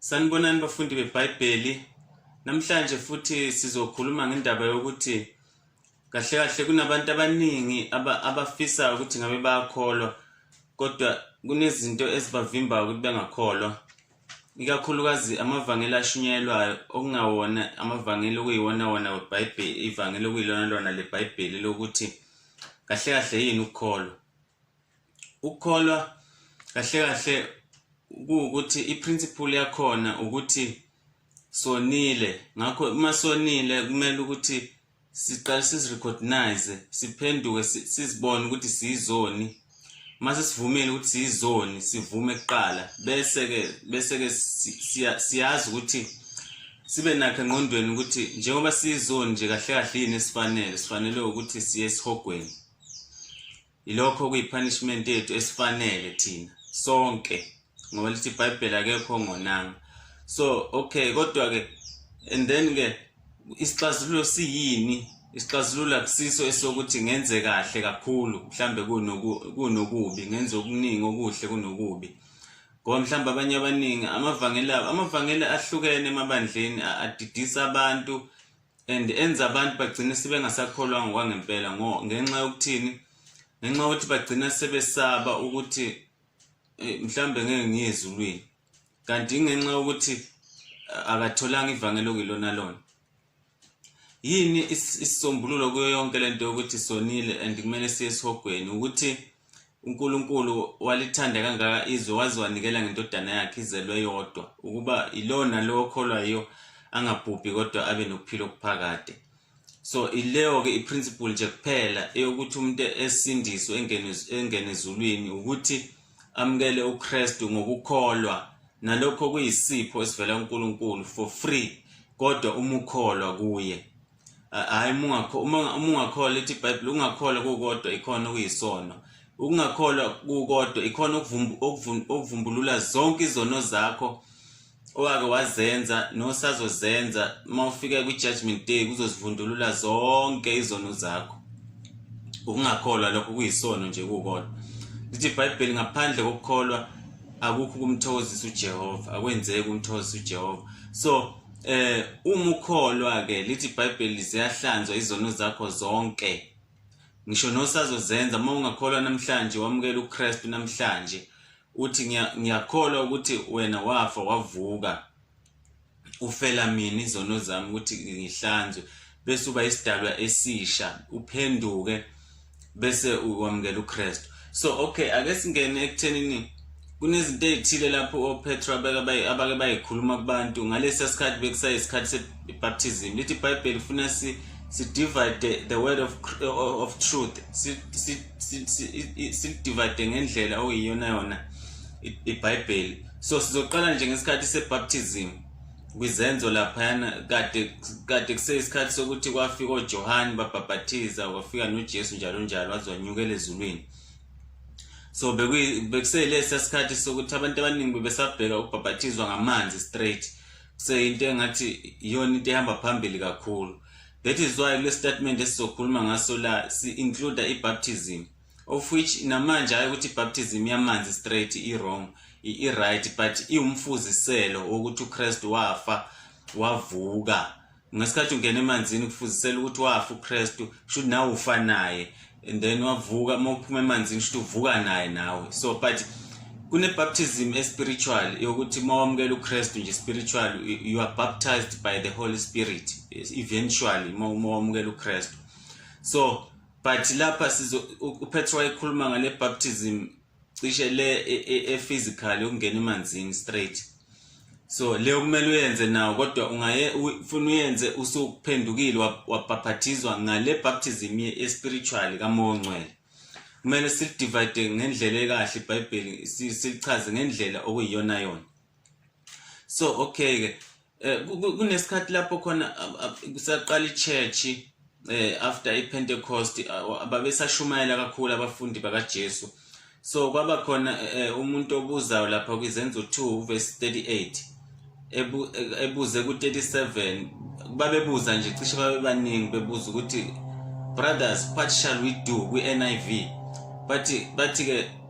Sanibonani bafundi beBhayibheli. Namhlanje futhi sizokhuluma ngendaba yokuthi kahle kahle kunabantu abaningi abafisa ukuthi ngabe bayakholwa kodwa kunezinto ezibavimbayo ukuthi bengakholwa. Ikakhulukazi amavangeli ashunyelwayo okungawona amavangeli okuyiwona wona weBhayibheli, ivangeli okuyilona lona leBhayibheli lokuthi kahle kahle yini ukukholwa. ukukholwa kahle kahle kuwukuthi i-principle yakhona ukuthi sonile ngakho uma sonile kumele ukuthi siqale sizirecognize siphenduke sizibone ukuthi siyizoni mase sivumile ukuthi siyizoni sivume kuqala bese ke bese ke siyazi ukuthi sibe nakhe engqondweni ukuthi njengoba sizoni nje kahle kahle yini esifanele sifanele ukuthi siye esihogweni Yilokho okuyipunishment yethu esifanele thina sonke ngoba lithi iBhayibheli akekho ongonanga. So okay kodwa ke and then ke isixazululo siyini? Isixazululo akusiso esokuthi ngenze kahle kakhulu mhlambe kunoku kunokubi ngenze okuningi okuhle kunokubi. Ngoba mhlawumbe abanye abaningi amavangeli abo amavangeli ahlukene emabandleni adidisa abantu and enza abantu bagcine sebengasakholwa ngokwangempela ngo ngenxa yokuthini ngenxa yokuthi bagcina sebesaba ukuthi eh, mhlambe ngeke ngiye ezulwini kanti ingenxa yokuthi eh, akatholanga ivangelo kilona lona yini isisombululo kuyo yonke lento yokuthi sonile and kumele siye esihogweni ukuthi uNkulunkulu walithanda kangaka izwe waze wanikela ngendodana yakhe izelwe yodwa ukuba ilona lowo okholwa yiyo angabhubhi kodwa abe nokuphila okuphakade so ileyo-ke i-principle nje kuphela eyokuthi umuntu esindiswe engene ezulwini ukuthi amukele ukristu ngokukholwa nalokho kuyisipho esivela kunkulunkulu for free kodwa uma ukholwa kuye hayi mungakho uma ungakholwa ithi iBhayibheli ungakholwa kukodwa ikhona okuyisono ukungakholwa kukodwa ikhona okuvumbulula zonke izono zakho owake wazenza nosazozenza uma ufika kwi-judgment day kuzozivundulula zonke izono zakho ukungakholwa lokho kuyisono nje kukodwa lithi ibhayibheli ngaphandle kokukholwa akukho ukumthokozisa ujehova akwenzeki ukumthokozisa ujehova so Eh uma ukholwa ke lithi iBhayibheli ziyahlanzwa izono zakho zonke. Ngisho nosazozenza uma ungakholwa namhlanje wamukela uKristu namhlanje uthi ngiyakholwa ukuthi wena wafa wavuka ufela mina izono zami ukuthi ngihlanzwe bese uba isidalwa esisha uphenduke bese ukwamukela uKristu so okay ake singene ekuthenini kunezinto ezithile lapho oPetro abake abake bayikhuluma kubantu ngalesi sikhathi bekusayisikhathi sebaptism lithi iBhayibheli funa si si divide the, the word of of truth si si si divide ngendlela okuyiyona yona iBhayibheli so sizoqala nje ngesikhathi sebaptism kwizenzo laphayana kade kade kuseyisikhathi sokuthi kwafika oJohane babhabhathiza kwafika noJesu njalo njalo wazonyukela ezulwini so bekuseyilesi sikhathi sokuthi abantu abaningi bebesabheka ukubhabhathizwa ngamanzi straight kuseyinto engathi iyona into ehamba phambili kakhulu that is why kule statement esizokhuluma ngaso la si-includa i-baptism of which namanje hayi ukuthi ibaptism yamanzi straight i-wrong i-right but iwumfuziselo wokuthi ukristu wafa wavuka ngesikhathi ungena emanzini kufuzisela ukuthi wafa ukristu should nawe ufa naye and then wavuka uma uphuma emanzini should uvuka naye nawe so but kunebaptism espiritual yokuthi uma wamukela ukristu nje spiritual you are baptized by the holy spirit eventually uma wamukela ukristu so but lapha sizo uPetro wayekhuluma ngale baptism cishe le e, e, e physical ukungena emanzini straight so le kumele uyenze nawo kodwa ungaye ufuna uyenze usukuphendukile wabhaphathizwa ngale baptism ye spiritual kamoya ongcwele kumele silidivide ngendlela ekahle iBhayibheli silichaze ngendlela okuyiyona yona so okay ke eh, kunesikhathi lapho khona kusaqala ichurch eh after ipentecost ababesashumayela kakhulu abafundi bakaJesu so kwaba khona eh, umuntu obuzayo lapha kwizenzo 2 verse 38 ebuze ku-37 babebuza nje cishe babebaningi bebuza ukuthi brothers what shall we do kwi-niv bathi bathi-ke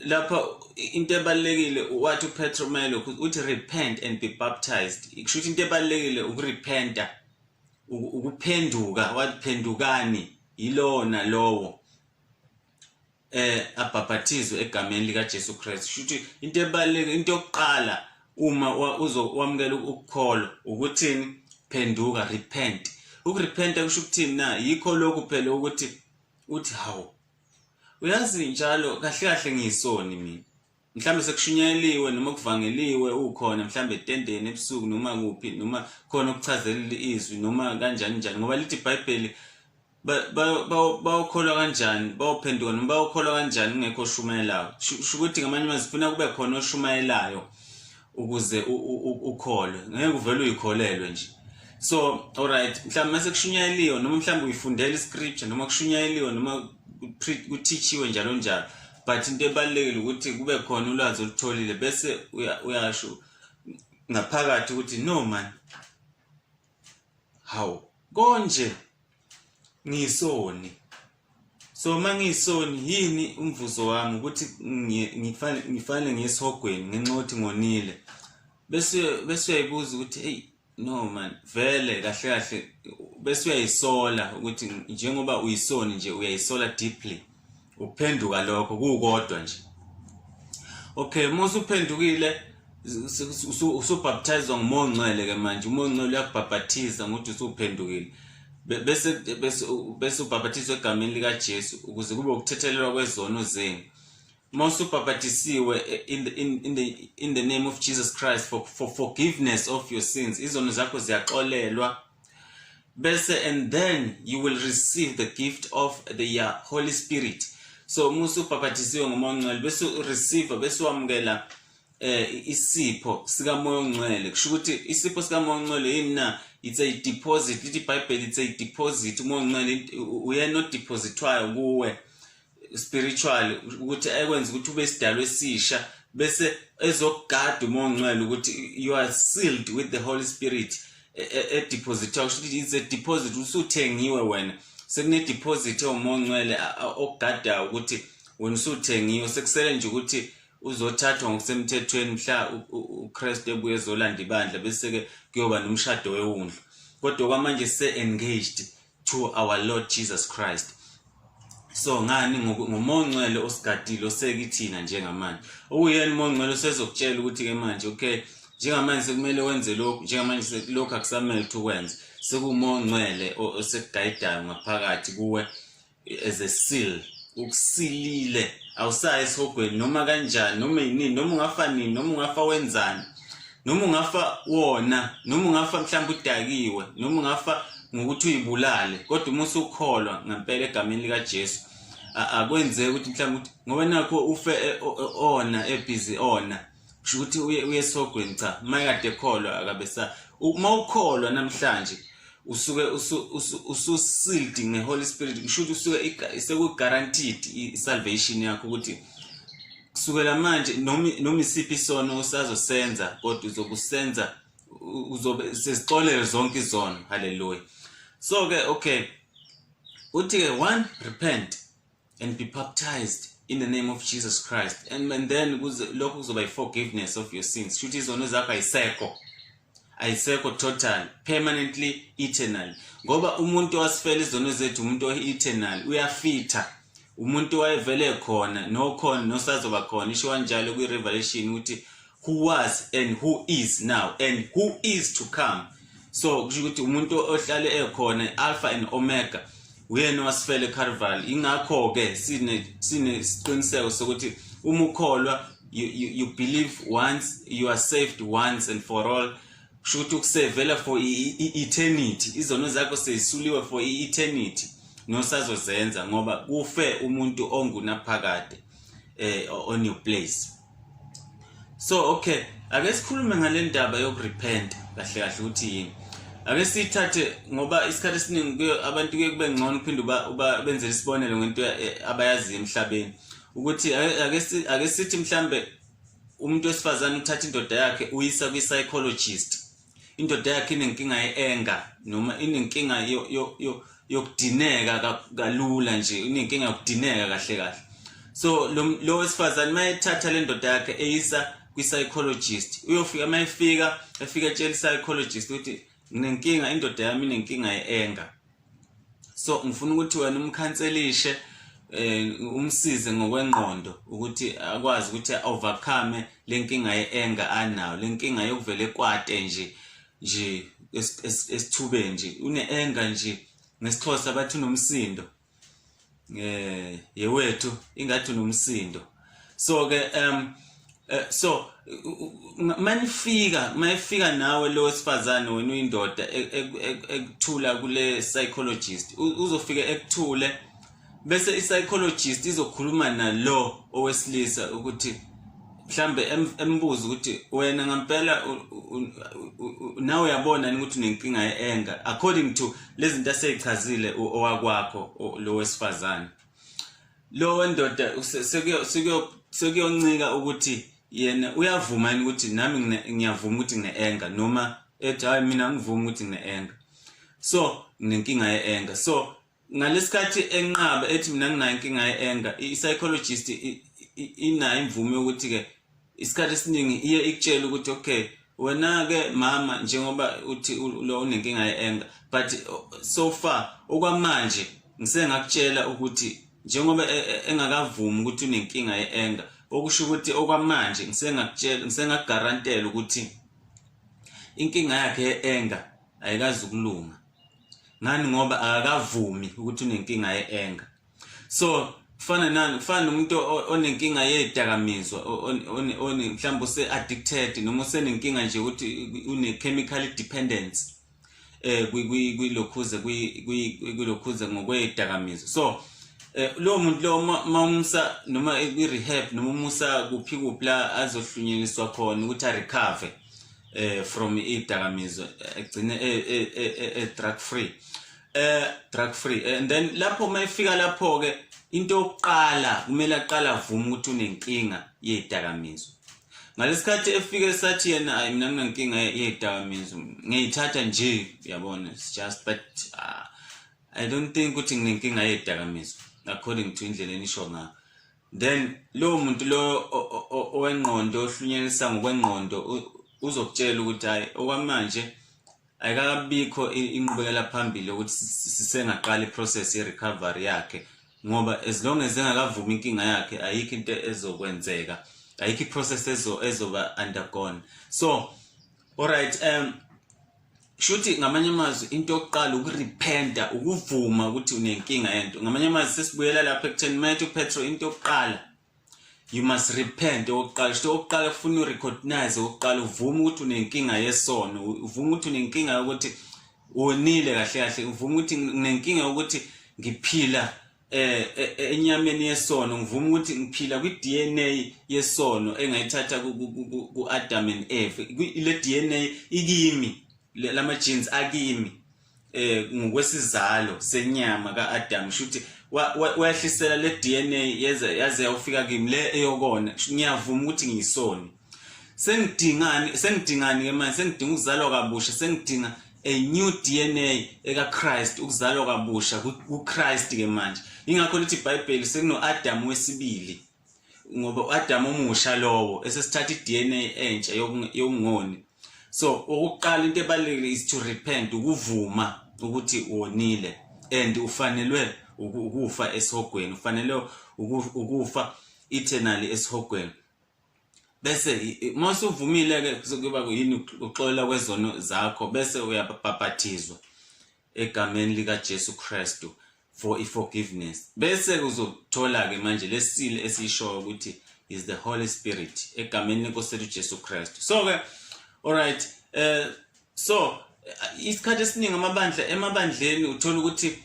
lapha into ebalekile wathi uPetro Melo uthi repent and be baptized ikusho ukuthi into ebalekile ukurepenta ukuphenduka waphendukani yilona lowo eh abhaphathizwe egameni lika Jesu Christ shuthi into ebalekile into yokuqala uma uzowamukela ukukholwa ukuthini phenduka repent ukurepenta kusho ukuthini na yikho lokhu phela ukuthi uthi hawu uyazi njalo kahle kahle ngiyisoni mina mhlambe sekushunyayeliwe noma kuvangeliwe ukhona mhlambe etendeni ebusuku noma kuphi noma khona okuchazelela izwi noma kanjani njani ngoba lithi ibhayibheli bawukholwa kanjani bawuphenduka noma bawukholwa kanjani kungekho oshumayelayo shukuthi ngamanye amazwi funa kube khona oshumayelayo ukuze ukholwe ngeke uvele uyikholelwe nje so alright mhlawumbe mase kushunyayeliwe noma mhlawumbe uyifundela iscripture noma kushunyayeliwe noma kuthichiwe njalo njalo but into ebalulekile ukuthi kube khona ulwazi olutholile bese uyasho ngaphakathi ukuthi no man hawu konje ngisoni so uma ngiyisoni yini umvuzo wami ukuthi ngifanele ngiyesihogweni ngenxa yokuthi ngonile bese bese uyayibuza ukuthi hey no man vele kahle kahle bese uyayisola ukuthi njengoba uyisoni nje uyayisola deeply ukuphenduka lokho kukodwa nje okay uma usuphendukile usubhaptizwa ngumoya ongcwele ke manje umoya ongcwele uyakubhapathiza ngokuthi usuphendukile bese bese bese ubhapathiswa egameni likaJesu ukuze kube ukuthethelelwa kwezono zenu uma usubhapatisiwe eh, in the, in, in, the, in the name of Jesus Christ for, for forgiveness of your sins izono zakho ziyaxolelwa bese and then you will receive the gift of the uh, holy spirit so uma usubhabhathisiwe ngomoya ongcwele bese ureceive bese wamukela eh isipho sikamoya ongcwele kusho ukuthi isipho sikamoya ongcwele yini na it's a deposit lithi ibhayibheli it's a deposit umoya ongcwele uyena odepositwayo kuwe spiritual ukuthi ekwenza ukuthi ube sidalwe esisha bese ezokugada umongcwele ukuthi you are sealed with the holy spirit e, e, e deposit kusho ukuthi it's a deposit usuthengiwe wena sekune deposit ewumongcwele okugada ukuthi wena usuthengiwe sekusele nje ukuthi uzothathwa ngokusemthethweni mhla uKristu ebuye ezolanda ibandla bese ke kuyoba nomshado wewundlu kodwa kwamanje se engaged to our Lord Jesus Christ so ngani ngomonqwele osigadile osekithina njengamanje okuyena umonqwele usezokutshela ukuthi ke manje okay njengamanje sekumele wenze lokhu njengamanje lokhu akusamele ukuthi ukwenze sekumonqwele osekugayidayo ngaphakathi kuwe as a seal ukusilile awusayi esihogweni noma kanjani noma yinini noma ungafa nini noma ungafa wenzani noma ungafa wona noma ungafa mhlawumbe udakiwe noma ungafa ngokuthi uyibulale kodwa uma usukholwa ngempela egameni likaJesu akwenzeki ukuthi mhlawumbe ukuthi ngoba nakho ufe e, ona ebhizi ona kusho ukuthi uye uye sogweni cha uma kade ekholwa akabe sa uma ukholwa namhlanje usuke ususiled ngeholy spirit kusho ukuthi usuke sekuguaranteed i-salvation yakho ukuthi kusukela manje noma isiphi isono usazosenza kodwa uzokusenza uzobe sezixolele zonke izono haleluya so ke okay uthi ke one repent and be baptized in the name of Jesus Christ and, and then lokho kuzoba i-forgiveness of your sins shuthi izono zakho ayisekho ayisekho total permanently eternal ngoba umuntu wasifela izono zethu umuntu o-eternal uyafitha umuntu wayevele khona nokhona nosazoba khona isho kanjalo kwi-revelation ukuthi who was and who is now and who is to come so kusho ukuthi umuntu ohlale ekhona alpha and omega uyena wasifele carnival ingakho ke sine sine siqiniseko sokuthi uma ukholwa you, you, you believe once you are saved once and for all kusho ukuthi ukusevela for i-eternity izono zakho seyisuliwe for i-eternity nosazozenza ngoba kufe umuntu ongunaphakade eh on your place so okay ake sikhulume ngale ndaba yokurepenta kahle kahle ukuthi yini ake sithathe ngoba isikhathi esiningi abantu kuye kube ngcono uphinde ubenzele isibonelo ngento eh, abayaziyo emhlabeni ukuthi ake sithi mhlambe umuntu wesifazane uthatha indoda yakhe uyisa kwi-psychologist indoda yakhe inenkinga ye-enga noma inenkinga yokudineka kalula nje inenkinga yokudineka kahle kahle so lo wesifazane uma ethatha le ndoda yakhe eyisa kwi-psychologist uyofika uma efika efika etshela i-psychologist ukuthi nginenkinga indoda yami inenkinga ye-enga so ngifuna ukuthi wena umkhanselishe eh umsize ngokwengqondo ukuthi akwazi ukuthi overcome lenkinga yeenga anayo lenkinga yokuvele kwate nje nje esithubeni nje uneenga nje ngesixhosa bathi unomsindo eh yewethu ingathi unomsindo so ke um eh, so manifika mayifika nawe lo wesifazane wena uyindoda e, e, e, ekuthula kule psychologist uzofika ekuthule bese i psychologist izokhuluma nalo owesilisa ukuthi mhlambe embuza ukuthi wena ngempela nawe uyabona ukuthi unenkinga yeenga according to lezinto aseyichazile owakwakho lo wesifazane lo wendoda sekuyoncika ukuthi yena uyavuma yini ukuthi nami ngiyavuma ukuthi ngine-enga noma ethi hayi mina ngivuma ukuthi ngine-enga so nginenkinga ye-enga so ngalesikhathi enqaba ethi mina nginayo inkinga ye-anger i-psychologist inayo imvume yokuthi ke isikhathi esiningi iye ikutshela ukuthi okay wena ke mama njengoba uthi lo unenkinga ye-anger but so far okwamanje ngisengakutshela ukuthi njengoba e, e, engakavumi ukuthi unenkinga ye-anger okusho ukuthi okwamanje ngisengakutshela ngisengakugarantela ukuthi inkinga yakhe ye-anger ayikazi ukulunga ngani ngoba akakavumi ukuthi unenkinga ye-anger so kufana nani kufana nomuntu onenkinga yedakamizwa mhlawumbe use-addicted noma usenenkinga nje ukuthi une-chemical dependence eh kwilokhuze kwilokhuze ngokwedakamizwa so eh lo muntu lo mawumsa noma kwi-rehab noma umusa kuphi kuphi la azohlunyelelwa khona ukuthi a-recover eh from idakamizwe egcine e, e, e, e drug free eh drug free and then lapho mayifika lapho ke into yokuqala kumele aqala avuma ukuthi unenkinga yedakamizwe ngalesikhathi efike sathi yena ayi mina nginenkinga yedakamizwe ngiyithatha nje uyabona it's just but uh, i don't think ukuthi nginenkinga yedakamizwe according to indlela enisho ngayo then lowo muntu lo owengqondo ohlunyelisa ngokwengqondo uzokutshela ukuthi hayi okwamanje ayikakabikho inqubekela phambili ukuthi sisengaqala iprocess yerecovery yakhe ngoba as long as engakavumi inkinga yakhe ayikho into ezokwenzeka ayikho iprocess ezo ezoba undergone so alright um shuthi ngamanye amazwi into yokuqala ukurepenta ukuvuma ukuthi unenkinga yento ngamanye amazwi sesibuyela lapha ekutheni uma ethi upetro into yokuqala you must repent okokuqala sho okokuqala kufuna urecognize okokuqala uvume ukuthi unenkinga yesono uvume ukuthi unenkinga yokuthi wonile kahle kahle uvume ukuthi unenkinga yokuthi ngiphila eh, eh, eh enyameni yesono ngivuma ukuthi ngiphila kwi DNA yesono engayithatha ku Adam and Eve le DNA ikimi lama genes akimi eh ngokwesizalo senyama ka Adam shuthi wayehlisela le DNA yeze yaze yofika kimi le eyokona ngiyavuma ukuthi ngiyisoni sengidingani sengidingani ke manje sengidinga ukuzalwa kabusha sengidinga a new DNA eka Christ ukuzalwa kabusha ku Christ ke manje ingakho lithi iBhayibheli sekuno Adam wesibili ngoba uAdam omusha lowo esesithatha iDNA entsha yokungoni so ukuqala into ebalekile is to repent ukuvuma ukuthi wonile and ufanelwe ukufa esihogweni ufanele ukufa eternally esihogweni bese uma usuvumile-ke kuba yini ukuxolela kwezono zakho bese uyabhabhathizwa egameni likaJesu Kristu for i-forgiveness bese uzothola-ke manje lesile esiyishoyo ukuthi is the holy spirit egameni lenkosi lethu jesu kristu so-ke alright um uh, so isikhathi esiningi amabandla emabandleni uthola ukuthi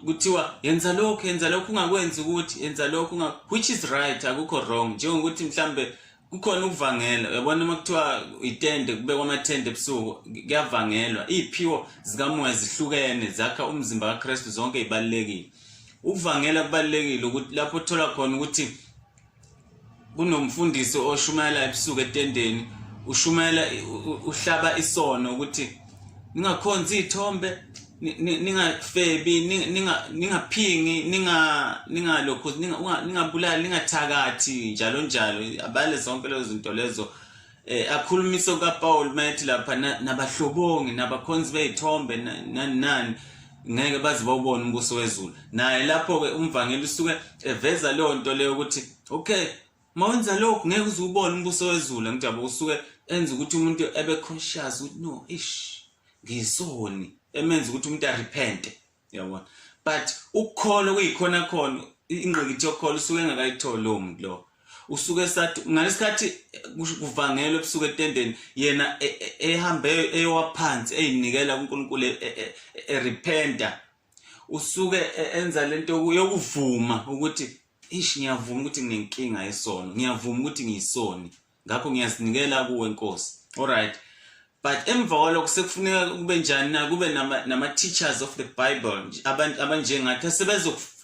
kuthiwa yenza lokhu yenza lokhu ungakwenzi ukuthi yenza lokhu which is right akukho wrong njengokuthi mhlambe kukhona ukuvangela uyabona uma kuthiwa itende kubekwa amathende ebusuku kuyavangelwa iy'phiwo zikamoya zihlukene zakha umzimba kakristu zonke ibalulekile ukuvangela kubalulekile lapho othola khona ukuthi kunomfundisi oshumayela ebusuku etendeni ushumayela uhlaba isono ukuthi ningakhonzi ithombe ningafebi ningaphingi ningalokhu ningabulali ningathakathi njalo njalo abale zonke lezo zinto lezo eh akhulumisa ukaPaul mayethi lapha nabahlobongi nabakhonzi bezithombe nani nani ngeke baze bawubone umbuso wezulu naye lapho ke umvangeli usuke eveza leyo nto leyo ukuthi okay mawenza lokho ngeke uze ubone umbuso wezulu ngijaba usuke enza ukuthi umuntu ebe conscious ukuthi no ish ngisoni emenza ukuthi umuntu arepente yabona but ukukholwa kuyikhona khona ingqikithi yokukholwa usuke engakayitholi lowo muntu lowo usuke sathi ngalesikhathi kuvangelwe ebusuku etendeni yena e, e, ehambe eyowaphansi eyinikela kuNkulunkulu erepenta e, usuke enza lento yokuvuma ukuthi ish ngiyavuma ukuthi nginenkinga yesono ngiyavuma ukuthi ngiyisoni ngakho ngiyazinikela kuwe nkosi alright but emva kwalokho sekufuneka kube njani na kube nama-teachers of the bible abantu abanjengathi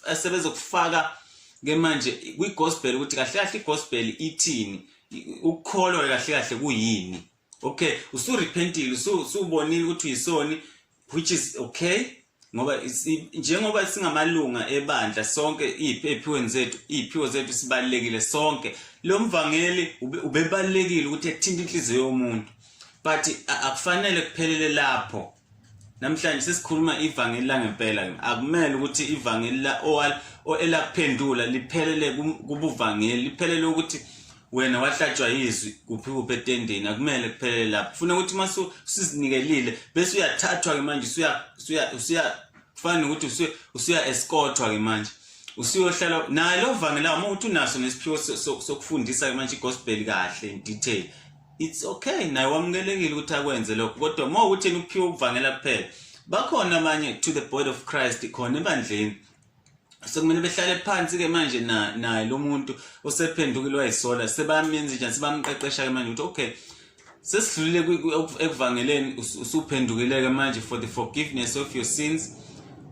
asebezokufaka ke manje kwi-gospel ukuthi kahle kahle i-gospel ithini ukukholwa kahle kahle kuyini okay usurepentile usubonile ukuthi uyisoni which is okay ngoba njengoba singamalunga ebandla sonke iy'phiweni zethu iy'phiwo zethu sibalulekile sonke lo mvangeli ubebalulekile ukuthi ethinte inhliziyo yomuntu but akufanele kuphelele lapho namhlanje sesikhuluma ivangeli langempela akumele ukuthi ivangeli la owal elakuphendula liphelele kubuvangeli liphelele ukuthi wena wahlatshwa yizwi kuphi kuphi etendeni akumele kuphelele lapho kufuna ukuthi uma usizinikelile bese uyathathwa-ke manje usuya kufana nokuthi usuya escothwa-ke manje usuyohlala naye lo vangela uma ukuthi unaso nesiphiwo sokufundisa-ke manje igospel kahle in detail it's okay naye wamukelekile ukuthi akwenze lokho kodwa uma ukuthi yena ukuphiwa ukuvangela kuphela bakhona abanye to the body of christ khona ebandleni sekumele behlale phansi-ke manje naye lo muntu osephendukile wayisola sebamenza njani sebamqeqesha-ke manje ukuthi okay sesidlulile ekuvangeleni usuphendukile-ke manje for the forgiveness of your sins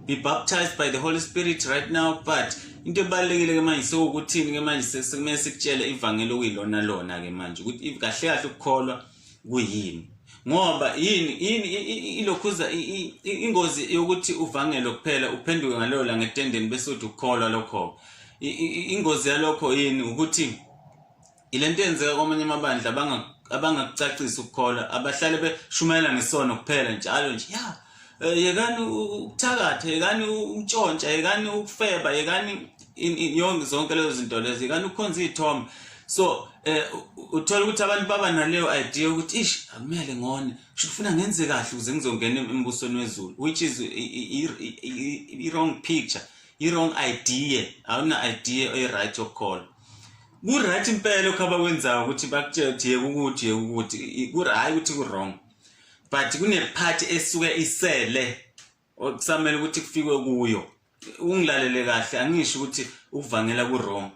be baptized by the holy spirit right now but into ebalulekile-ke manje sewukuthini-ke manje sekumele sikutshele ivangeli okuyilona lona-ke manje ukuthi kahle kahle ukukholwa kuyini ngoba yini yini ilokhuza ingozi yokuthi uvangele kuphela uphenduke ngaloyo la ngetendeni bese uthi ukukholwa lokho ingozi yalokho yini ukuthi ilento yenzeka kwamanye amabandla abangakucacisi ukukholwa abahlale beshumayela ngesono kuphela njalo nje ya Eh, yekani ukuthakatha yekani ukutshontsha yekani ukufeba yekani yonke zonke lezo zinto lezo yekani ukukhonza iy'thombe so um uthole ukuthi abantu baba naleyo idea yokuthi ish akumele ngone sho kufuna ngenze kahle ukuze ngizongena embusweni wezulu which is i-wrong picture i-wrong idea awuna idea oyi-right yokukholwa ku-right impela okuhaba kwenzayo ukuthi bakutshela ukuthi yeke ukuthi yeke ukuthi hhayi ukuthi ku-wrong but kunephathi esuke isele okusamele ukuthi kufikwe kuyo ungilalele kahle angisho ukuthi ukuvangela kuroma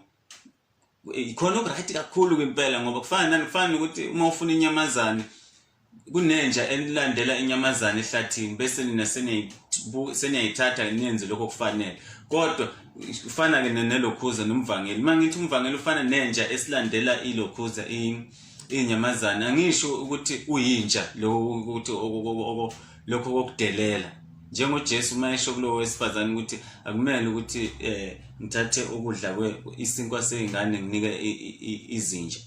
ikhona okuright kakhulu kwimpela ngoba kufana nani kufana ukuthi uma ufuna inyamazane kunenja elilandela inyamazane ehlathini bese nina seniyayithatha nenze lokho kufanele kodwa kufana-ke nelokhuza nomvangeli uma ngithi umvangeli ufana nenja esilandela ilokhuza inyamazane angisho ukuthi uyintsha lokho ukuthi lokho kokudelela njengoJesu uma esho kulowo wesifazane ukuthi akumele ukuthi eh ngithathe ukudla kwe isinkwa sezingane nginike izinja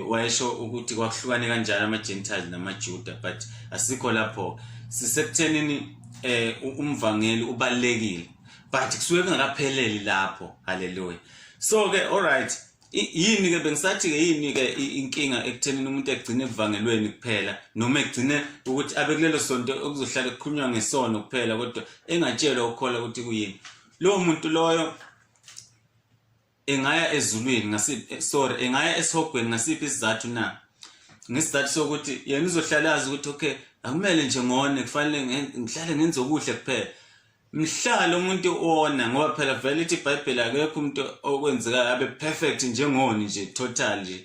wayesho ukuthi kwakuhlukane kanjalo ama-gentile namajuda but asikho lapho sisekuthenini eh umvangeli ubalekile but kusuke kungakapheleli lapho haleluya so ke all right yini ke bengisathi ke yini ke inkinga ekuthenini umuntu egcine evangelweni kuphela noma egcine ukuthi abe kulelo sonto okuzohlala kukhulunywa ngesono kuphela kodwa engatshelwa ukukhola ukuthi kuyini lowo muntu loyo engaya ezulwini ngasiphi eh, sorry engaya esihogweni ngasiphi isizathu na ngesizathu sokuthi yena uzohlala azi ukuthi okay akumele nje ngone kufanele ngihlale ngenze okuhle kuphela mhlalo umuntu ona ngoba phela vele ithi ibhayibheli akekho umuntu okwenzekayo abe perfect njengoni nje total nje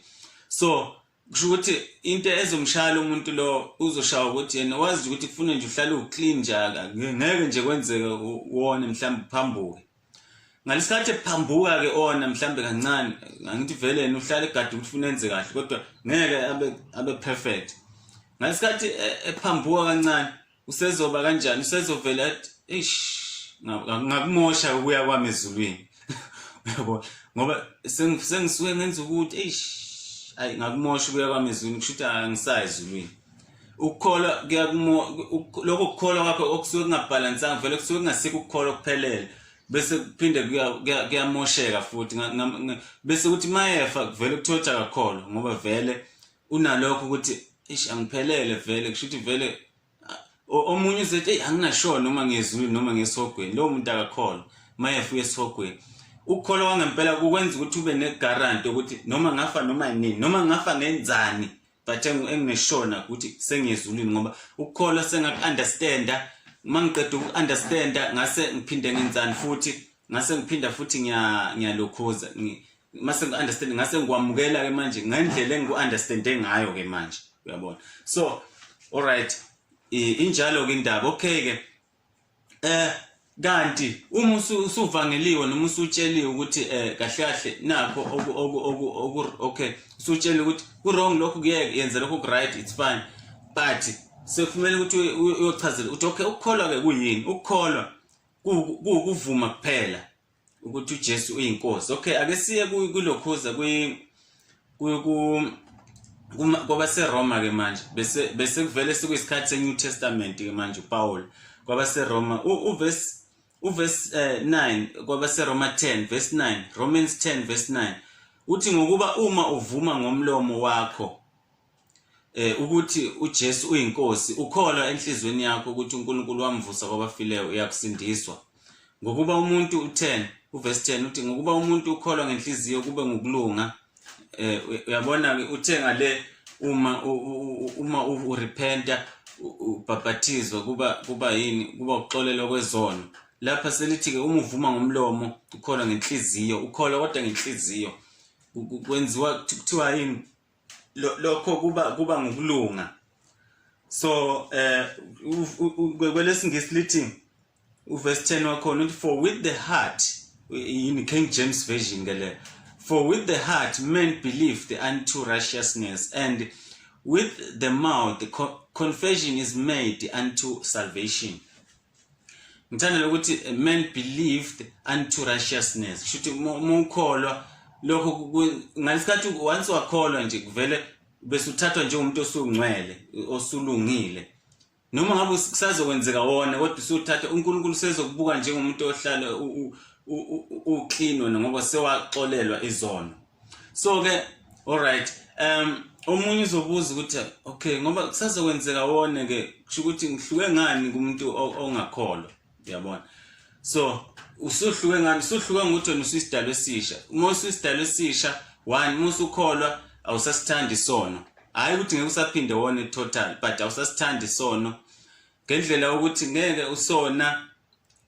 so kusho ukuthi into ezomshaya lo muntu lo uzoshaya ukuthi yena wazi ukuthi kufuna nje uhlale uclean njaka ngeke nje kwenzeke wona mhlawumbe uphambuke ngalesikhathi ephambuka ke ona mhlawumbe kancane ngithi vele yena uhlale egade ukuthi ufuna enze kahle kodwa ngeke abe abe perfect ngalesikhathi e, ephambuka kancane usezoba kanjani usezovela athi eish ngakumosha ukuya kwami ezulwini yabo ngoba sengisuke ngenza ukuthi eish ayi ngakumosha ukuya kwami ezulwini kusho ukuthi angisayi ezulwini ukukholwa kuyakumo lokho kukholwa kwakho okusuke kungabhalansanga vele kusuke kungasikho ukukholwa kuphelele bese kuphinde kuyamosheka futhi bese kuthi mayefa kuvele kuthothi akakholwa ngoba vele unalokho ukuthi ish angiphelele vele kusho ukuthi vele omunye uzothi eyi anginashona noma ngezulu noma ngesihogweni lowo muntu akakholwa mayefuye esihogweni ukukholwa kwangempela kukwenza ukuthi ube negaranti yokuthi noma ngafa noma yinini noma ngafa ngenzani but engingeshona ukuthi sengiyezulwini ngoba ukukholwa sengaku-understanda uma ngiqeda uku-understanda ngase ngiphinde ngenzani futhi ngase ngiphinda futhi ngiyalokhuza mase ngi-understand ngase ngikwamukela ke manje ngendlela engiku-understande ngayo ke manje uyabona so alright injalo-ke indaba okay-ke eh kanti uma usuvangeliwe noma usutsheliwe ukuthi eh kahle kahle nakho oku oku oku oku okay usutsheliwe ukuthi ku wrong lokho kuyeke yenze lokho ku right it's fine but sekufanele ukuthi uyochazela ukuthi okay ukukholwa ke kuyini ukukholwa kuvuma kuphela ukuthi uJesu uyinkosi okay ake siye kulokhuza kwi kwabaseroma ke manje bese bese kuvele sekuyisikhathi seNew Testament ke manje uPaul kwabaseroma uvesi uvesi 9 eh, kwabaseroma 10 verse 9 Romans 10 verse 9 uthi ngokuba uma uvuma ngomlomo wakho eh ukuthi uJesu uyinkosi ukholwa enhlizweni yakho ukuthi uNkulunkulu wamvusa kwabafileyo uyakusindiswa ngokuba umuntu u10 uverse 10 uthi ngokuba umuntu ukholwa ngenhliziyo kube ngokulunga eh uyabona ke uthe ngale uma uma urepenta ubhapathizo kuba kuba yini kuba uxolelo kwezono lapha selithi ke uma uvuma ngomlomo ukholwa ngenhliziyo ukholwa kodwa ngenhliziyo kwenziwa kuthiwa yini lokho kuba kuba ngokulunga so eh kwelesingisi lithi uverse 10 wakhona uthi for with the heart in King James version ke le for with the heart men believe the unto righteousness and with the mouth the confession is made unto salvation ngithandela ukuthi eh, man believed unto righteousness kusho ukuthi uma ukholwa lokho ngalesikhathi once wakholwa nje kuvele bese uthathwa njengomuntu osungcwele osulungile noma ngabe kusazokwenzeka wona kodwa usuthatha uNkulunkulu sezokubuka njengomuntu ohlala uclean wena ngoba sewaxolelwa izono so ke all right um omunye uzobuza ukuthi okay ngoba kusazokwenzeka wone ke kusho ukuthi ngihluke ngani kumuntu ongakholwa uyabona so usuhluke ngani usuhluke ngokuthi wena usuyisidalo esisha uma usuyisidalo esisha one uma usukholwa awusasithandi isono hhayi ukuthi ngeke usaphinde wone total but awusasithandi isono ngendlela yokuthi ngeke usona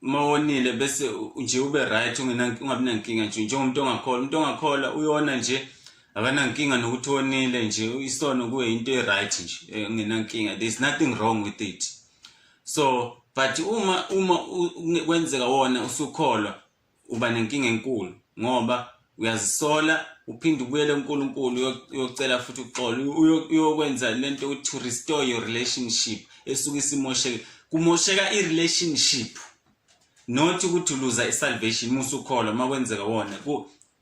uma wonile bese nje ube right ungabi nankinga nje njengomuntu ongakholwa umuntu ongakholwa uyona nje akanankinga nokuthi wonile nje isono kuye into e-right nje eh, ungenankinga there's nothing wrong with it so but uma uma kwenzeka wona usukholwa uba nenkinga enkulu ngoba uyazisola uphinde ubuyele uNkulunkulu uyocela futhi uxolo uyokwenza lento ukuthi to restore your relationship esuke isimosheke kumosheka i-relationship not ukuthi uluza i-salvation musukholwa uma kwenzeka wona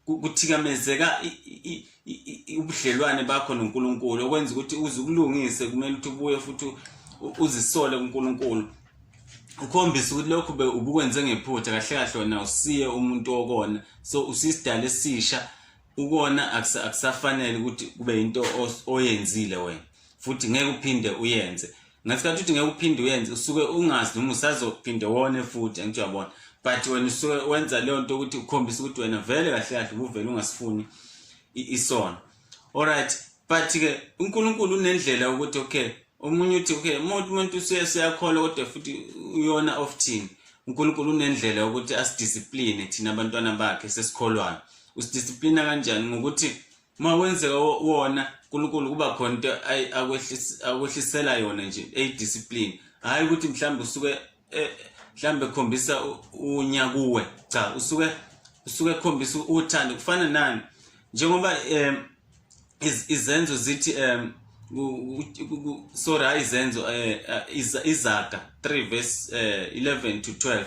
kuthikamezeka ubudlelwane bakho noNkulunkulu okwenza ukuthi uze ukulungise kumele ukuthi ubuye futhi uzisole kuNkulunkulu ukhombisa ukuthi lokhu be ubukwenze ngephutha kahle kahle wena usiye umuntu okona so usisidala esisha ukona akusafanele ukuthi kube into oyenzile wena futhi ngeke uphinde uyenze ngesikhathi uthi ngeke uphinde uyenze usuke ungazi noma usazophinde wone futhi angithi uyabona but wena usuke wenza leyo nto ukuthi ukhombisa ukuthi wena vele kahle kahle ubuvele ungasifuni isono alright but ke uNkulunkulu unendlela ukuthi okay omunye uthi okay umuntu umuntu useyakholwa kodwa futhi uyona of thina uNkulunkulu unendlela yokuthi asidiscipline thina abantwana bakhe sesikholwayo usidiscipline kanjani ngokuthi uma kwenzeka wona uNkulunkulu kuba khona into akwehlisela yona nje eyidiscipline hayi ukuthi mhlawumbe usuke eh, mhlambe khombisa unya kuwe cha usuke usuke khombisa uthando kufana nani njengoba um izenzo zithi um sorry hayi izenzo um izaga 3 verse um 11 to 12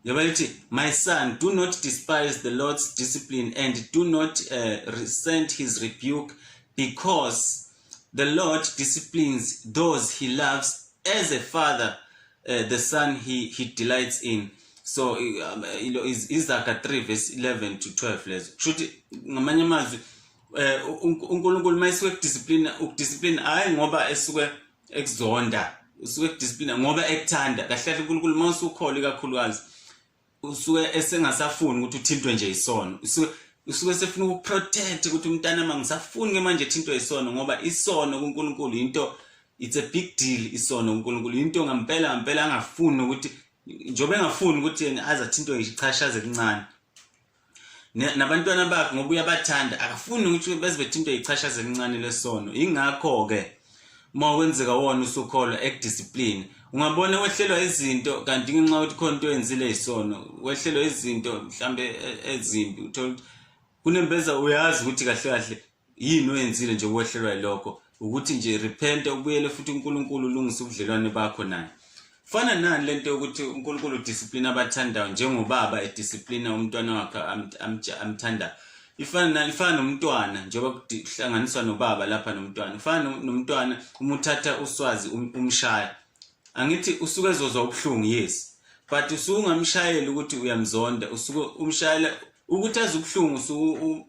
njengoba lithi my son do not despise the lord's discipline and do not uh, resent his rebuke because The Lord disciplines those he loves as a father, uh, the son he, he delights in. So um, you know, is Isaka 3 verse 11 to 12 lezo. Kushuthi ngamanye amazwi eh uNkulunkulu mayisuke kudiscipline ukudiscipline hayi ngoba esuke ekuzonda usuke kudiscipline ngoba ekuthanda kahle kahle uNkulunkulu mawusukholi kakhulukazi usuke esengasafuni ukuthi uthintwe nje isono usuke usuke sefuna ukuprotect ukuthi umntana mama ngisafuni ke manje thintwe isono ngoba isono kuNkulunkulu into it's a big deal isono kuNkulunkulu into ngampela ngampela angafuni ukuthi njobe engafuni ukuthi azathintwe ngisho ichashaze lincane nabantwana bakhe ngoba uyabathanda akafuni ukuthi beze bethintwe yichashaza elincane lesono yingakho-ke uma kwenzeka wona usukholwa ekudiscipline ungabona wehlelwa izinto kanti ngenxa yokuthi khona into oyenzile yisono wehlelwa izinto mhlawumbe e, ezimbi uthole ukuthi kunembeza uyazi ukuthi kahle kahle yini oyenzile nje ukwehlelwa yilokho ukuthi nje repente ubuyele futhi uNkulunkulu ulungise ubudlelwane bakho naye fana nani lento yokuthi uNkulunkulu udiscipline abathandayo njengobaba ediscipline umntwana wakhe amthanda ifana nani ifana nomntwana njengoba kuhlanganiswa nobaba lapha nomntwana ifana nomntwana uma uthatha uswazi um-, umshaya angithi usuke ezozwa ubuhlungu yes but usuke ungamshayeli ukuthi uyamzonda usuke umshayela ukuthi azi ubuhlungu usuke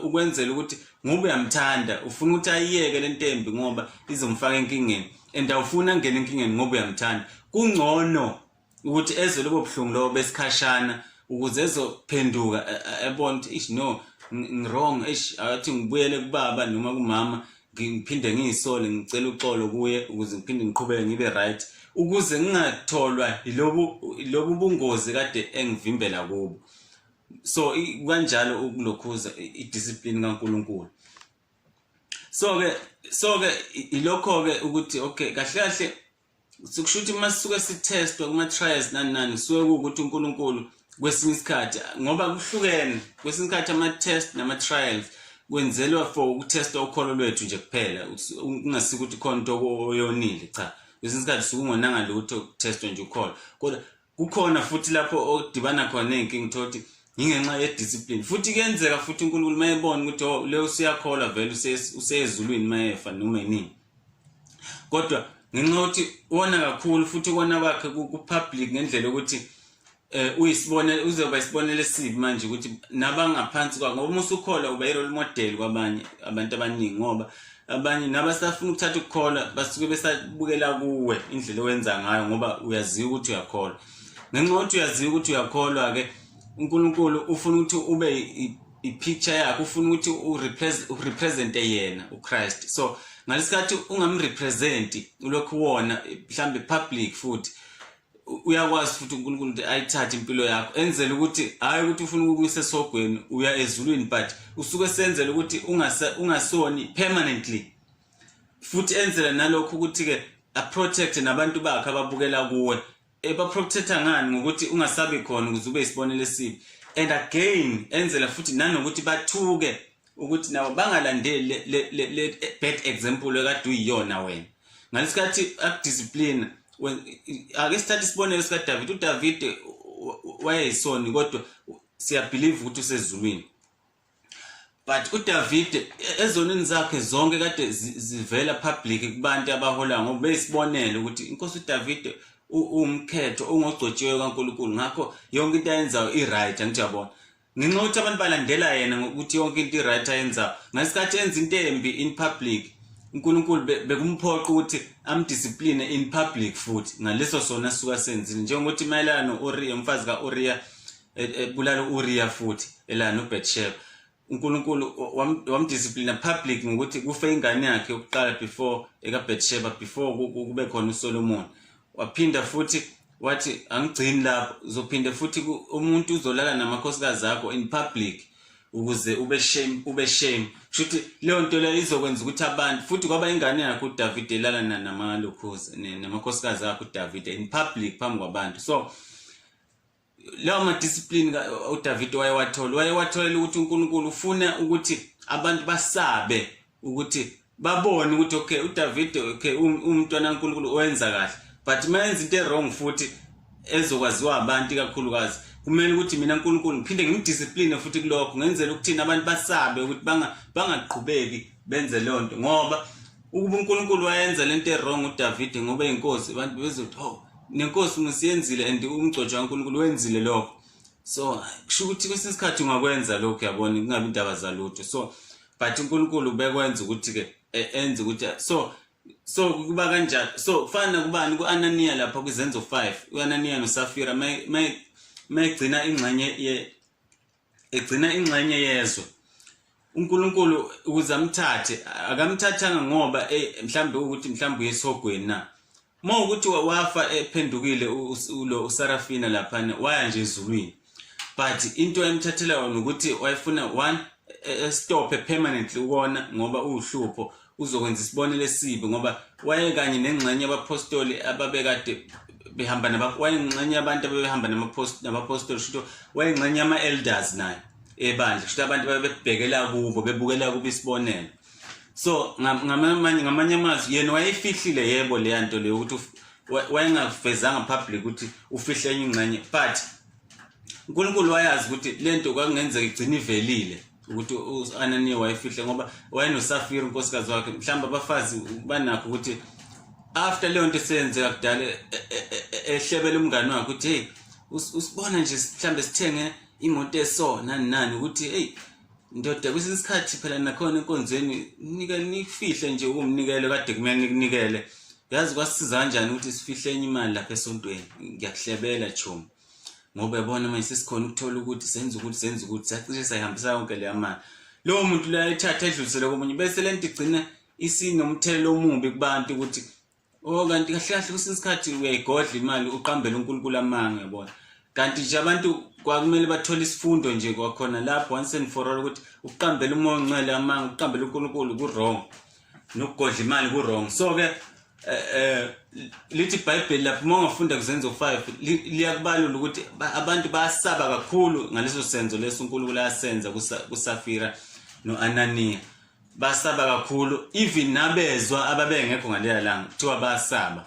ukwenzela ukuthi ngoba uyamthanda ufuna ukuthi ayiyeke le ntembi ngoba izomfaka enkingeni and awufuni angene enkingeni ngoba uyamthanda kungcono ukuthi ezwe lobo buhlungu lobo besikhashana ukuze ezophenduka ebona ukuthi ish no ngirong ish athi ngibuyele kubaba noma kumama ngiphinde ngiyisole ngicela uxolo kuye ukuze ngiphinde ngiqhubeke ngibe right ukuze ngingatholwa yilobu lobu bungozi kade engivimbela kubo so kanjalo ukulokhuza idiscipline kaNkuluNkulu so ke so ke ilokho ke ukuthi okay kahle kahle sikusho ukuthi uma sisuke sithestwa kuma-trials nani nani kusuke kuwukuthi unkulunkulu kwesinye isikhathi ngoba kuhlukene kwesinye isikhathi ama-test nama-trials kwenzelwa for ukuthesta ukholo lwethu nje kuphela kungasiko ukuthi khona into oyonile cha kwesinye isikhathi suke ungonanga lutho kuthestwa nje ukholo kodwa kukhona futhi lapho odibana khona ney'nkinga utholukuthi yingenxa yediscipline futhi kuyenzeka futhi unkulunkulu uma ebona ukuthi o oh, le usuyakholwa vele useyezulwini uma efa noma inini kodwa ngenxa yokuthi wona kakhulu futhi ukona kwakhe ku-public ngendlela yokuthi eh uyisibonele uzoba isibonele sibi manje ukuthi nabangaphansi kwakho ngoba uma usukhola uba i-role model kwabanye abantu abaningi ngoba abanye nabasafuna ukuthatha ukukholwa basuke besabukela kuwe indlela owenza ngayo ngoba uyaziwa ukuthi uyakholwa ngenxa yokuthi uyaziwa ukuthi uyakholwa-ke unkulunkulu ufuna ukuthi ube i-picture yakhe ufuna ukuthi urepresente yena uchrist so ngalesikhathi ungamrepresenti ulokhu wona mhlawumbe public futhi uyakwazi futhi uNkulunkulu ukuthi ayithathe impilo yakho enzele ukuthi hayi ukuthi ufuna ukukuyisa esogweni uya ezulwini but usuke senzele ukuthi ungasoni permanently futhi enzele nalokho ukuthi-ke aprotect nabantu bakhe ababukela kuwe ebaprotecta eh, ngani ngokuthi ungasabi khona ukuze ube isibonelo esibi and again enzela futhi nanokuthi bathuke ukuthi nabo bangalandeli le bad example ekade uyiyona wena ngalesikhathi akudiscipline ake sithathe isibonelo sikaDavid uDavid wayeyisoni kodwa siyabelieve ukuthi usezulwini but uDavid ezonini zakhe zonke kade zivela public kubantu abahola ngoba besibonele ukuthi inkosi uDavid uwumkhetho ongogcotshiwe kaNkuluNkulu ngakho yonke into ayenzayo i-right angithi yabona ngenxa ukuthi abantu balandela yena ngokuthi yonke into i-right ayenza ngesikhathi enza into embi in public unkulunkulu bekumphoqa ukuthi amdiscipline in public futhi ngaleso sona suka senzile njengokuthi mayelana no-uriya umfazi ka-uriya e, e, ebulala u-uriya futhi elana nobetsheba unkulunkulu wamdisciplina public ngokuthi kufe ingane yakhe yokuqala before ekabetsheba before kube khona usolomoni waphinda futhi wathi angigcini lapho uzophinde futhi umuntu uzolala namakhosikazi akho in public ukuze ube shame ube shame shuthi leyo nto leyo izokwenza ukuthi abantu futhi kwaba ingane yakho uDavid elala namalokhozi namakhosikazi akho uDavid in public phambi kwabantu so lawo ma discipline uDavid wayewathola wayewatholela ukuthi uNkulunkulu ufuna ukuthi abantu basabe ukuthi babone ukuthi okay uDavide okay umntwana kaNkulunkulu owenza kahle but mayenza into ewrong futhi ezokwaziwa abantu kakhulukazi kumele ukuthi mina uNkulunkulu ngiphinde ngimdiscipline futhi kulokho ngenzela ukuthi abantu basabe ukuthi banga bangaqhubeki benze lonto ngoba ukuba uNkulunkulu wayenza lento ewrong uDavide ngoba inkosi abantu bezothi oh nenkosi musiyenzile and umgcotshwa kaNkulunkulu wenzile lokho so kusho ukuthi kwesinye isikhathi ungakwenza lokhu yabona kungabi indaba zalutho so but uNkulunkulu bekwenza ukuthi ke e, enze ukuthi so so kuba kanjalo so kufana kubani kuAnania lapha kwizenzo 5 uAnania noSafira may may mayigcina ingxenye ye egcina ingxenye yezwe uNkulunkulu ukuze amthathe akamthathanga ngoba eh, mhlambe ukuthi mhlambe uyesogweni na Uma ukuthi wafa ephendukile ulo uSarafina laphana waya nje ezulwini. But into emthathela yona ukuthi wayefuna one e, e, stop permanently ukona ngoba uhlupho uzokwenza isibonelo esibi ngoba waye kanye nengxenye yabapostoli ababekade behamba naba wayengxenye abantu abebehamba namapostoli shuthi wayengxenye ama-elders naye ebandla shuthi abantu babebhekela kubo bebukela kubo isibonelo so ngamanye ngamanye amazwi yena wayefihlile yebo leya nto leyo ukuthi wayengavezanga public ukuthi ufihle enye ingxenye but uNkulunkulu wayazi ukuthi lento kwakungenzeka igcina ivelile ukuthi uAnaniya wayefihle ngoba wayenosafira unkosikazi wakhe mhlawumbe abafazi banakho ukuthi after leyo nto seyenzeka kudala e, e, e, ehlebela umngane wakhe ukuthi hey usibona nje mhlawumbe sithenge imoto esona nani ukuthi hey Ndoda kwesinye isikhathi phela nakhona enkonzweni nika nifihle nje ukumnikele kade kumele nikunikele. Yazi kwasiza kanjani ukuthi sifihle enye imali lapha esontweni. Ngiyakuhlebela chomi. Ngoba yabona manje sesikhona ukuthola ukuthi senza ukuthi senza ukuthi sacishe sayihambisa yonke leya mali. Lowo muntu loyo ayithatha edlulisele komunye bese lento igcina isinomthelela omubi kubantu ukuthi Oh kanti kahle kahle kwesinye isikhathi uyayigodla imali uqambela uNkulunkulu amanga yabona. Kanti nje abantu kwakumele bathole isifundo nje kwakhona lapho once and for all ukuthi ukuqambela umoya ongcwele amanga ukuqambela uNkulunkulu ku-wrong nokugodla imali ku-wrong so ke eh, eh lithi iBhayibheli lapho uma ungafunda kuzenzo 5 liyakubalula ukuthi abantu bayasaba kakhulu ngaleso senzo leso uNkulunkulu ayasenza kuSafira noAnaniya basaba kakhulu even nabezwa ababengekho ngaleya langa kuthiwa basaba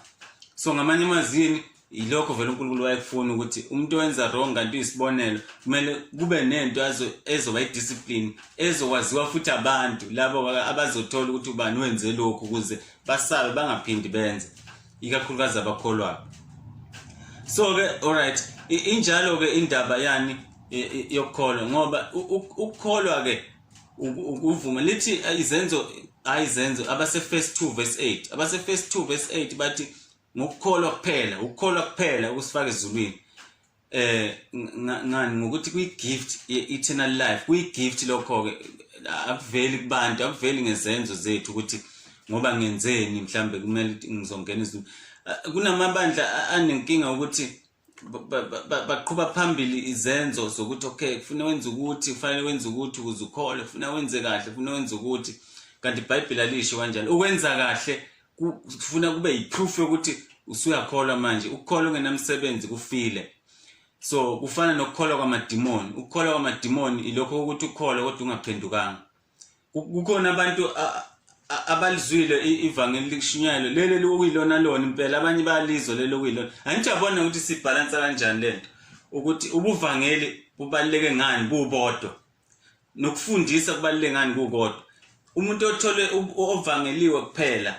so ngamanye amazini yilokho vele uNkulunkulu wayekufuna ukuthi umuntu owenza wrong kanti uyisibonelo kumele kube nento ezoba idiscipline ezokwaziwa futhi abantu labo abazothola ukuthi ubani wenze lokhu ukuze basabe bangaphindi benze ikakhulukazi abakholwayo so-ke alright injalo-ke indaba yani yokukholwa ngoba ukukholwa-ke ukuvuma lithi eh, izenzo hayi izenzo abase first 2 verse 8 abase first 2 verse 8 bathi ngokukholwa kuphela ukukholwa kuphela ukusifaka ezulwini eh ngani ngokuthi kuyi gift eternal life kuyi gift lokho ke akuveli kubantu akuveli ngezenzo zethu ukuthi ngoba ngenzeni mhlambe kumele ngizongena izulu eh, kunamabandla anenkinga ukuthi baqhuba phambili izenzo zokuthi okay kufuna wenze ukuthi kufanele wenze ukuthi ukuze ukhole kufuna wenze kahle kufuna wenze ukuthi kanti ibhayibheli alisho kanjalo ukwenza kahle kufuna kube yiproof yokuthi usuyakholwa manje ukukholwa ungenamsebenzi kufile so kufana nokukholwa kwamadimoni ukukholwa kwamadimoni ilokho ukuthi ukholwe kodwa ungaphendukanga kukhona abantu abalizwile ivangeli likushunyayelwe leli lokuyilona lona impela abanye bayalizwa leli lokuyilona angijabona ukuthi sibhalansa kanjani le nto ukuthi ubuvangeli bubaluleke ngani bubodwa nokufundisa kubaluleke ngani kukodwa umuntu othole ovangeliwe kuphela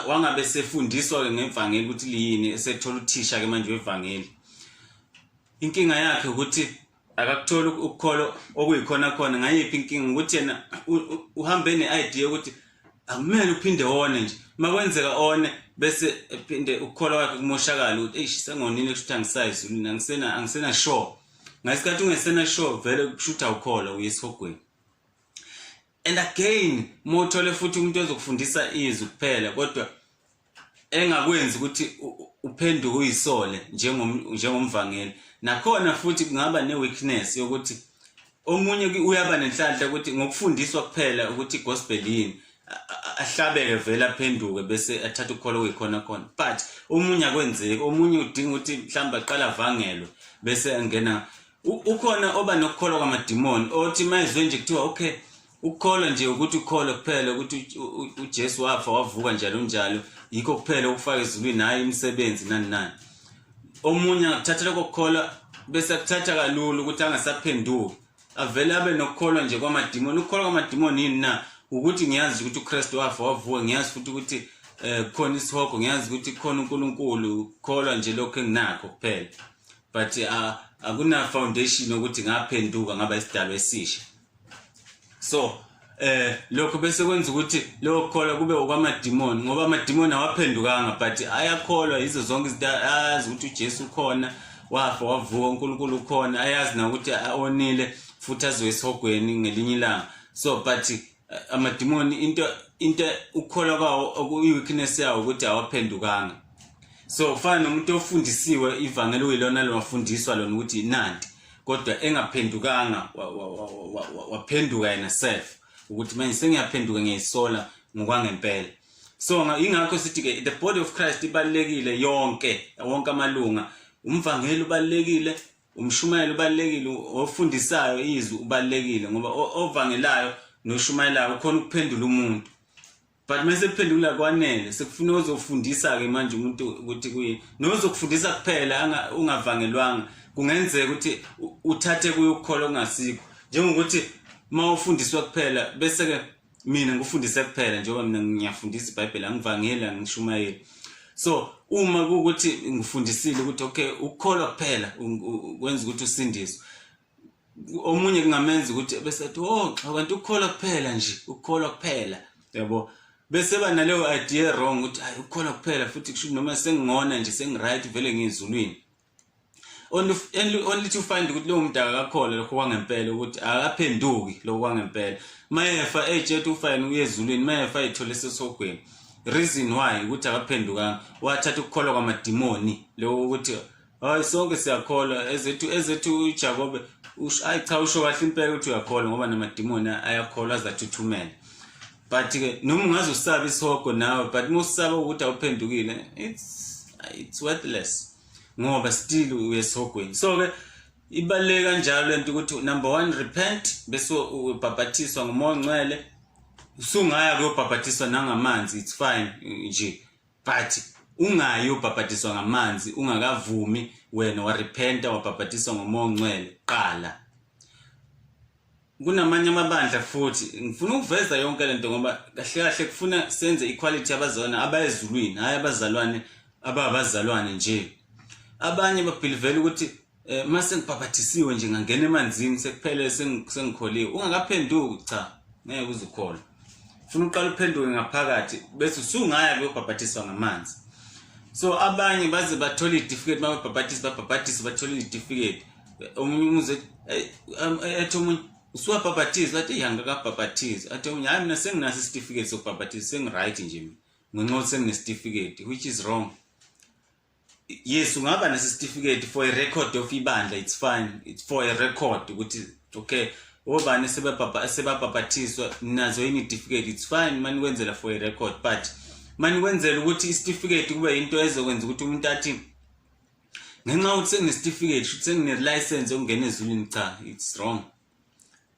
wangabe sefundiswa-ke ngevangeli ukuthi liyini esethola uthisha-ke manje wevangeli inkinga yakhe ukuthi akakutholi ukukholo okuyikhona khona ngayiphi inkinga ukuthi yena uhambe ne-idea yokuthi akumele uphinde one nje uma kwenzeka one bese ephinde ukukhola kwakhe kumoshakala ukuthi eyi sengonile kushuthi angisayizulini angisena-sure ngesikhathi ungesena-sure vele kushuthi awukholwa uyesihogweni and again mothole futhi umuntu ozokufundisa izwi kuphela kodwa engakwenzi ukuthi uphenduke uyisole njengomvangeli nakhona futhi kungaba ne-weakness yokuthi omunye uyaba nenhlanhla ukuthi ngokufundiswa kuphela ukuthi gospel yini ahlabeke vele aphenduke bese athatha ukholo kuyikhona khona but omunye akwenzeki omunye udinga ukuthi mhlawumbe aqala avangelwe bese angena ukhona oba nokukholwa kwamadimoni othi mayizwe nje kuthiwa okay ukukholwa nje ukuthi ukholwe kuphela ukuthi uJesu wafa wavuka njalo njalo yikho kuphela ukufaka ezulwini hayi imisebenzi nani nani omunye angakuthathela kokukholwa bese kuthatha kalula ukuthi angasaphenduki avele abe nokukholwa nje kwamadimoni ukukholwa kwamadimoni yini na ukuthi ngiyazi ukuthi uKristu wafa wavuka ngiyazi futhi ukuthi eh khona isihogo ngiyazi ukuthi khona uNkulunkulu ukukholwa nje lokho enginakho kuphela but uh, akuna foundation ukuthi ngaphenduka ngaba isidalwa esisha so eh lokho bese kwenza ukuthi lokho kholwa kube okwamadimoni ngoba amadimoni awaphendukanga but ayakholwa yizo zonke izinto ayazi ukuthi uJesu ukhona wafa wavuka uNkulunkulu ukhona ayazi na ukuthi onile futhi azoyisihogweni ngelinye ilanga so but amadimoni into into ukukholwa kwawo okuyi-weakness yawo ukuthi awaphendukanga so kufana nomuntu ofundisiwe ivangeli uyilona lowafundiswa lona ukuthi yinandi kodwa engaphendukanga waphenduka yena self ukuthi manje sengiyaphenduka ngiyisola ngokwangempela so ingakho sithi ke the body of Christ ibalekile yonke wonke amalunga umvangeli ubalekile umshumayeli ubalulekile ofundisayo izwi ubalulekile ngoba ovangelayo noshumayelayo ukhona ukuphendula umuntu but uma sekuphendula kwanele sekufuna ozofundisa-ke manje umuntu ukuthi kuye nozokufundisa kuphela ungavangelwanga kungenzeka ukuthi uthathe kuye ukukholwa okungasikho njengokuthi uma ufundiswa kuphela bese-ke mina ngikufundise kuphela njengoba mina ngiyafundisa ibhayibheli angivangeli angishumayeli so uma kuwukuthi ngifundisile ukuthi okay ukukholwa kuphela kwenza ukuthi usindiswe omunye kungamenza ukuthi bese athi oh xa kanti ukukholwa kuphela nje ukukholwa kuphela yabo bese ba naleyo idea wrong ukuthi hayi ukukholwa kuphela futhi kusho noma sengingona nje sengiright vele ngizulwini only only to find ukuthi lowo mdaka akakholwa lokho kwangempela ukuthi akaphenduki lokho kwangempela mayefa ejet ufayini uye ezulwini mayefa ethole sesogweni reason why ukuthi akaphendukanga wathatha ukukholwa kwamadimoni lokho ukuthi hayi sonke siyakholwa ezethu ezethu uJakobe ayi cha usho kahle impela ukuthi uyakholwa ngoba namadimoni ayakholwa azathuthumela but ke noma ungaze usabe isihogo nawe but uma usaba ukuthi awuphendukile it's it's worthless ngoba still uyesihogweni so ke ibaluleke kanjalo lento ukuthi number 1 repent bese ubhabhathiswa ngumoya ongcwele usungaya kuyobhabhathiswa nangamanzi it's fine nje but ungayi ubhabhadiswa ngamanzi ungakavumi wena warepenta wabhabhadiswa ngomoya ongcwele qala kunamanye amabandla futhi ngifuna ukuveza yonke lento ngoba kahle kahle kufuna senze equality abazona abayezulwini hayi abazalwane ababazalwane nje abanye babhilivela ukuthi Eh mase ngibhabhathisiwe nje ngangena emanzini sekuphele sengikholiwe ungakaphenduki cha ngeke uzukholwa funa uqala uphenduke ngaphakathi bese usungaya kuyobhabhathiswa ngamanzi so abanye baze bathola idifiketi bababhabhathise babhabhathise bathola idifiketi omunye umuze ethi omunye usuwabhabhathize athi yangakabhabhathize athi omunye hayi mina senginaso isitifiketi sokubhabhathiza sengiright nje mina ngenxa ukuthi senginesitifiketi which is wrong yes ungaba nesitifiketi for a record of ibandla it's fine it's for a record ukuthi okay obani sebabhabha sebabhabhathiswa nazo yini certificate it's fine mani kwenzela for a record but mani kwenzela ukuthi isitifiketi kube into ezokwenza ukuthi umuntu athi ngenxa ukuthi senginesitifiketi futhi sengine-license yokungena ezulwini cha it's wrong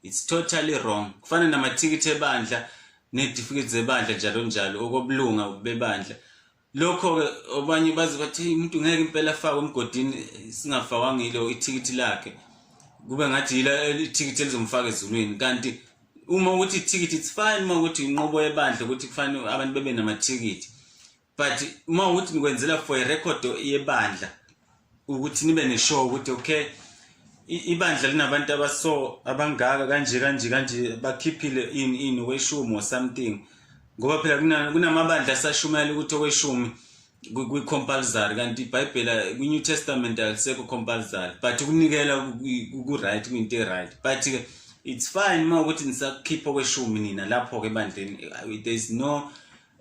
it's totally wrong kufana namathikithi ebandla netifiketi zebandla njalo njalo okobulunga bebandla lokho-ke abanye baze bathi hey umuntu ngeke impela afakwe emgodini singafakwanga yilo ithikithi lakhe kube ngathi yila ithikithi elizomfaka ezulwini kanti uma ukuthi ithikithi it's fine uma ukuthi inqobo yebandla ukuthi kufanele abantu bebe namathikithi but uma ukuthi nikwenzela for a record yebandla ukuthi nibe ne-show ukuthi okay ibandla linabantu abaso abangaka kanje kanje kanje bakhiphile in in weshumi or something ngoba phela kunamabandla asashumayela ukuthi okweshumi kwi-compulsory kanti ibhayibhela kwi-new testament alisekho compulsory but ukunikela ku-right kuyinto e-right but-ke it's fine uma ukuthi nisakhipha okweshumi nina lapho-ke ebandleni there is no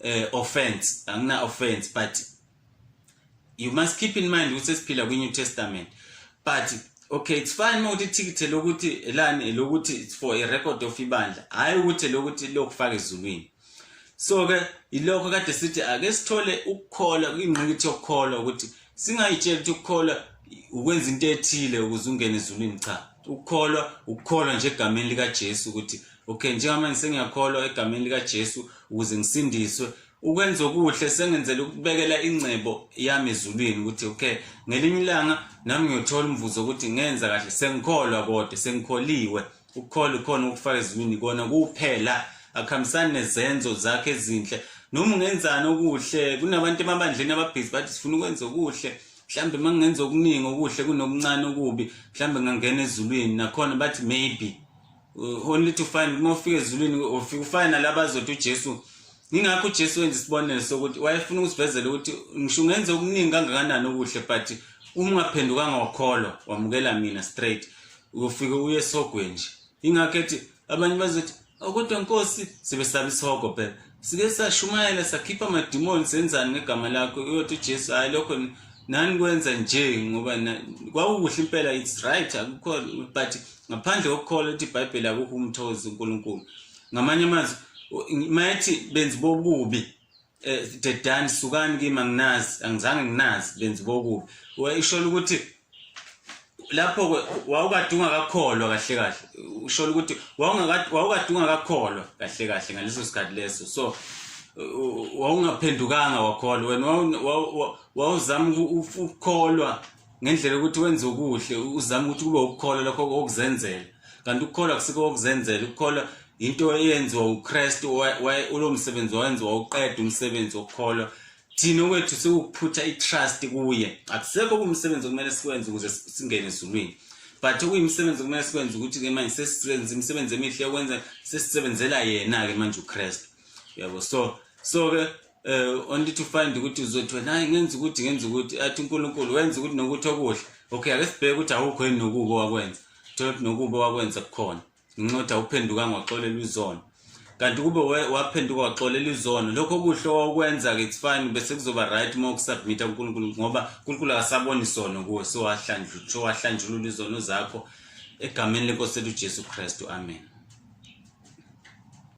uh, offense angina-offense but you must keep in mind ukuthi siphila kwi New Testament but okay it's fine mawuthi ithikithi lokuthi elani lokuthi it's for a record of ibandla hayi ukuthi lokuthi lokufaka ezulwini so ke ilokho kade sithi ake sithole ukukholwa ingqikithi yokukholwa ukuthi singayitsheli ukuthi ukukholwa ukwenza into ethile ukuze ungene ezulwini cha ukukholwa ukukholwa nje egameni likaJesu ukuthi okay njengamanje sengiyakholwa egameni likaJesu ukuze ngisindiswe ukwenza okuhle sengenzela ukubekela ingcebo yami ezulwini ukuthi okay ngelinye ilanga nami ngiyothola umvuzo ukuthi ngenza kahle sengikholwa kodwa sengikholiwe ukukholwa khona ukufaka ezulwini kona kuphela akuhambisani nezenzo zakhe ezinhle noma ungenzani okuhle kunabantu emabandleni ababhizi bathi sifuna ukwenza okuhle mhlambe mangenza okuningi okuhle kunokuncane okubi mhlambe ngangena ezulwini nakhona bathi maybe uh, only to find uma ufika ezulwini ufika ufane nalaba azothi uJesu ngingakho uJesu wenza isibonelo sokuthi wayefuna ukusivezela ukuthi ngisho ungenze okuningi kangakanani okuhle but uma ungaphendukanga wakholwa wamukela mina straight uyofike uye esogweni nje ingakho ethi abanye bazothi oh, kodwa nkosi sebesaba isihogo phela sike sashumayela sakhipha amadimoni senzani ngegama lakho uyothi ujesu hhayi lokho nani kwenza nje ngoba kwakukuhle impela it's right akukho but ngaphandle kokukholwa ukuthi ibhayibheli akukho umthozi unkulunkulu ngamanye amazwi mayethi benzi bokubi um dedani sukani kimi anginazi angizange nginazi benzi bokubi isholo ukuthi lapho ke wawukadunga kakholwa kahle kahle ushola ukuthi wawukadunga kakholwa kahle kahle ngaleso sikhathi leso so wawungaphendukanga wakholwa wena wawuzama ukukholwa ngendlela ukuthi wenze okuhle uzama ukuthi kube ukukholwa lokho okuzenzela kanti ukukholwa kusike okuzenzela ukukholwa into eyenziwa uKristu ulo msebenzi wayenziwa uqeda umsebenzi wokukholwa thina okwethu sewukuphutha i-trust kuye akusekho kumsebenzi okumele sikwenze ukuze singene ezulwini but okuyimisebenzi okumele sikwenze ukuthi-ke manje sesisebenza imisebenzi emihle yokwenza sesisebenzela yena-ke manje ukristu yabo so so-ke um eh, only to find ukuthi uzothi wena hayi ngenza ukuthi ngenza ukuthi athi unkulunkulu wenza ukuthi nokuthi okuhle okay ake sibheke ukuthi awukho yini nokubo wakwenza thole ukuthi nokubo wakwenza kukhona nginxotha uphendukanga waxolela izono kanti kube waphenduka waxolela izono lokho kuhle owakwenza-ke it's fine bese kuzoba right uma ukusubmitha kunkulunkulu ngoba unkulunkulu akasabona isono kuwe sowahlanjulula izono zakho egameni lenkosi lethu ujesu kristu amen